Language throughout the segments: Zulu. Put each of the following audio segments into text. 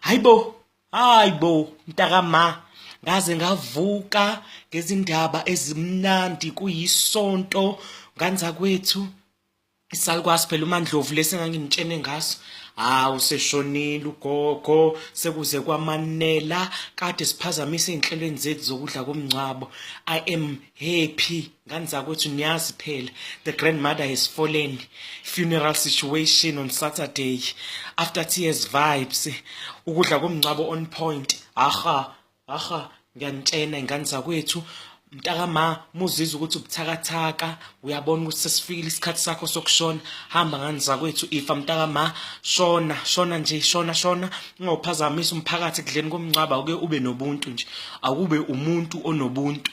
hayibo hayibo mntakama ngaze ngavuka ngezindaba ezimnandi kuyisonto nganza kwethu isalukwazi phela umandlovu lesi engangimtshene ngaso hawu seshonile ugogo sekuze kwamanela kade siphazamisa ezinhlelweni zethu zokudla komngcwabo i am happy ngani zakwethu niyazi phela the grandmother has fallen funeral situation on saturday after tears vibes ukudla komngcwabo on point aha aha ngiyanitshena ingane zakwethu mntakama muzizwa ukuthi ubuthakathaka uyabona ukuthi sesifikile isikhathi sakho sokushona hamba ngani zakwethu ifa mntakama shona shona nje shona shona ungawuphazamisa umphakathi ekudleni komngcwaba uke ube nobuntu nje akube umuntu onobuntu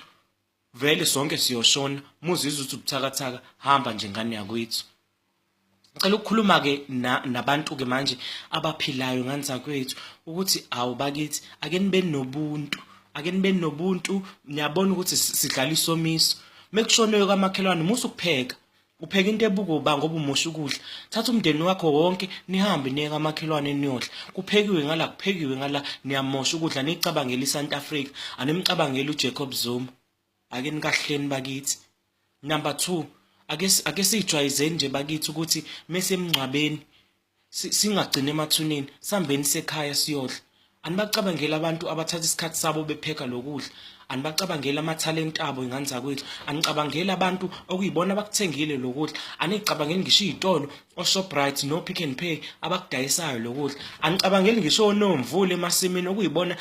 vele sonke siyoshona muzizwe ukuthi ubuthakathaka hamba nje ngane yakwethu ngicela ukukhuluma ke nabantu ke manje abaphilayo ngani zakwethu ukuthi awu bakithi ake nibe nobuntu ake nibe nobuntu niyabona ukuthi sidlala isomiso mekushonwe kwamakhelwane musu kupheka Upheka into ebuka uba ngoba umosha ukudla. Thatha umndeni wakho wonke nihambe niye kamakhelwane niyodla. Kuphekiwe ngala kuphekiwe ngala niyamosha ukudla nicabangela iSouth Africa. Animcabangela uJacob Zuma. Ake nikahleni bakithi. Number 2 ake ake sijwayizeni nje bakithi ukuthi mese emngcwabeni singagcini emathuneni sambeni sekhaya siyodla anibacabangeli abantu abathatha isikhathi sabo bepheka lokudla anibacabangeli amathalenti abo ingane zakwethu anicabangeli abantu okuyibona abakuthengile lokudla anicabangeli ngisho izitolo oShoprite no Pick n Pay abakudayisayo lokudla anicabangeli ngisho onomvule emasimini okuyibona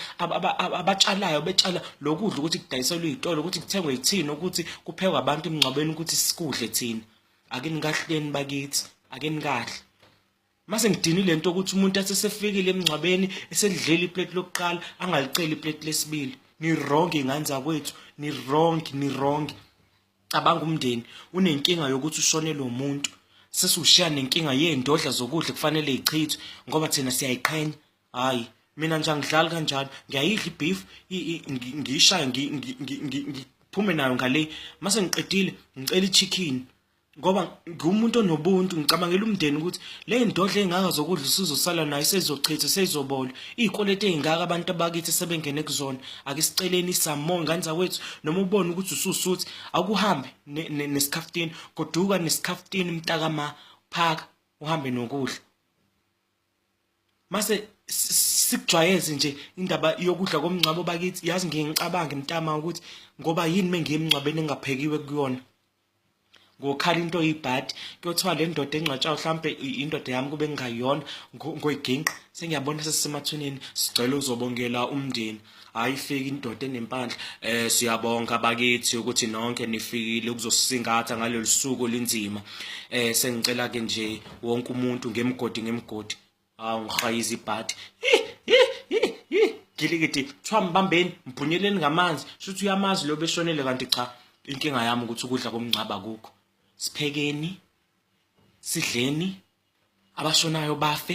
abatshalayo betshala lokudla ukuthi kudayiselwe izitolo ukuthi kuthengwe yithini ukuthi kuphekwe abantu emngcwabeni ukuthi sikudle thina ake nikahleni bakithi ake nikahle mase ngidini lento ukuthi umuntu asesefikile emngcwabeni eselidlela iplate lokuqala angaliceli iplate lesibili ni wrong ingane zakwethu ni wrong ni wrong cabanga umndeni unenkinga yokuthi ushonele umuntu sesiwushiya nenkinga yeendodla zokudla kufanele ichithwe ngoba thina siyayiqhenya hayi mina nje angidlali kanjalo ngiyayidla ibeef ngiyishaya ngiphume nayo ngale mase ngiqedile ngicela ichicken ngoba ngumuntu onobuntu ngicabangela umndeni ukuthi le ndodla engaka zokudla usizosala nayo sezochitha sezobola izikwelete ezingaka abantu abakithi sebengene kuzona ake siceleni isamo ngane zakwethu noma ubone ukuthi ususuthi akuhambe nesikhaftini goduka nesikhaftini mntakama phaka uhambe nokudla mase sikujwayeze nje indaba yokudla komngcwabo bakithi yazi ngiye ngicabange mntama ukuthi ngoba yini mengiye emngcwabeni engaphekiwe kuyona ngokhala into oyibhadi kuyothiwa le ndoda engcwatshayo mhlampe indoda yami kube ngingayona ngoyiginqa sengiyabona sesisemathuneni sicela uzobongela umndeni hayi fika indoda enempandla eh siyabonga bakithi ukuthi nonke nifikile ukuzosisingatha ngalolu suku linzima eh sengicela ke nje wonke umuntu ngemgodi ngemgodi awu ngihayiza ibhadi gilikiti kuthiwa mbambeni mbhunyeleni ngamanzi shuthi uyamazi lo beshonele kanti cha inkinga yami ukuthi ukudla komngcaba kukho siphekeni sidleni abashonayo bafe